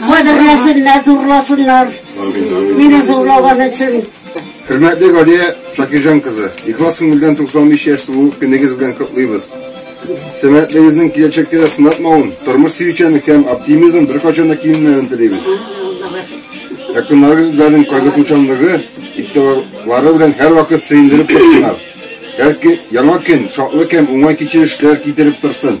Кадерләсеннәр, зурласыннар. Амин, амин. Мине зурлаган өчен. Хөрмәтле Галия Шакирҗан кызы, ихлас күңелдән 95 яшь тулу көнегез белән котлыйбыз. Сәламәтлегегезнең киләчәктә дә сынатмавын, тормыш сөючәнлек һәм оптимизм беркайчан да кимемәвен телибез. Якыннарыгыз үзләренең кайгыртучанлыгы, игътибарлары белән һәрвакыт сөендереп торсыннар. Һәр яңа көн шатлык һәм уңай кичерешләр китереп торсын.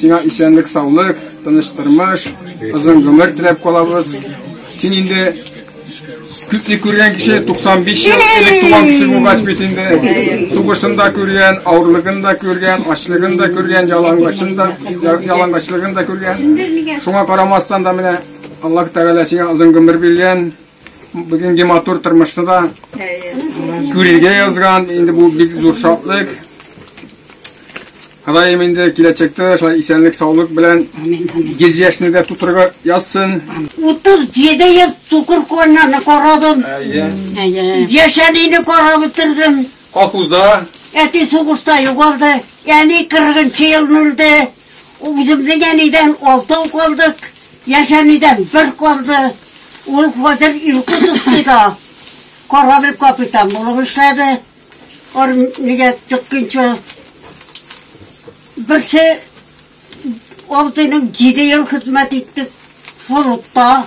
Сиңа исәнлек-саулык, тыныч тормыш, озын гомер теләп калабыз. Син инде күпне күргән кеше 95 ел элек туган кеше булгач бит инде сугышын да күргән авырлыгын да күргән ачлыгын да күргән ялангачлыгын да ялангачлыгын да күргән шуңа карамастан да менә аллаһ тәгалә сиңа озын гомер биргән Бүгенге матур тормышны да күрергә язган, инде бу бик зур шатлык. Ходаем инде киләчәктә шулай исәнлек, саулык белән 100 яшьне дә тутырырга язсын. 37 ел цукур коннаны карадым. Әйе. Яшәнене карап бетердем. Колхозда. Әти сугышта югалды. Әни 40 елны үлде. Үземнең әнидән алтау калдык, яшь әнидән бер калды. Ул хәзер Иркутскида корабль капитан булып эшләде. Армиягә чыкканчы берсе абзыйның җиде ел хезмәт итте флотта.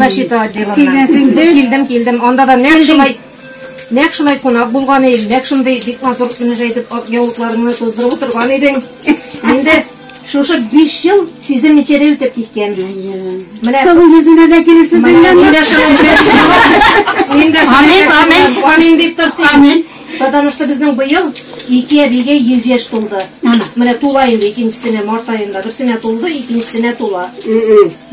Защита отделына. Килгәнсең инде. Килдем, килдем. Анда да нәкъ шулай нәкъ шулай кунак булган идем. Нәкъ шундый бик матур кенә җәйтеп ак яулыкларыңны туздырып утырган идең. Инде шушы 5 ел сизелмичә дә үтеп киткән. Менә Кавы йөзенә дә килеп менә сыдырган. инде шулай белән. Инде Амин, амин. Амин дип торсын. Амин. Потому что безнең быел ике әбигә 100 яшь тулды. Ана. Менә тула инде икенчесенә март аенда. Берсенә тулды, икенчесенә тула.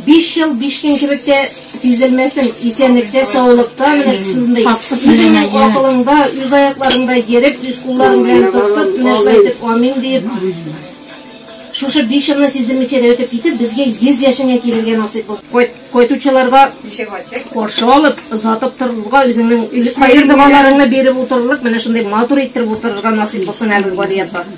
Биш ел биш көн кебек тә сизелмәсен, исәнлектә, саулыкта менә шушындый, үзеңнең акылыңда, үз аякларыңда йөреп, үз кулларың белән тотып, менә шулай итеп амин диеп, шушы биш елны сизелмичә дә үтеп китеп, безгә йөз яшеңә килергә насыйп булсын. Кайт, кайтучыларга каршы алып, озатып торырлыга, үзеңнең кайбер догаларыңны биреп утырырлык, менә шундый матур иттереп утырырга насыйп булсын әле, Гадияб бар.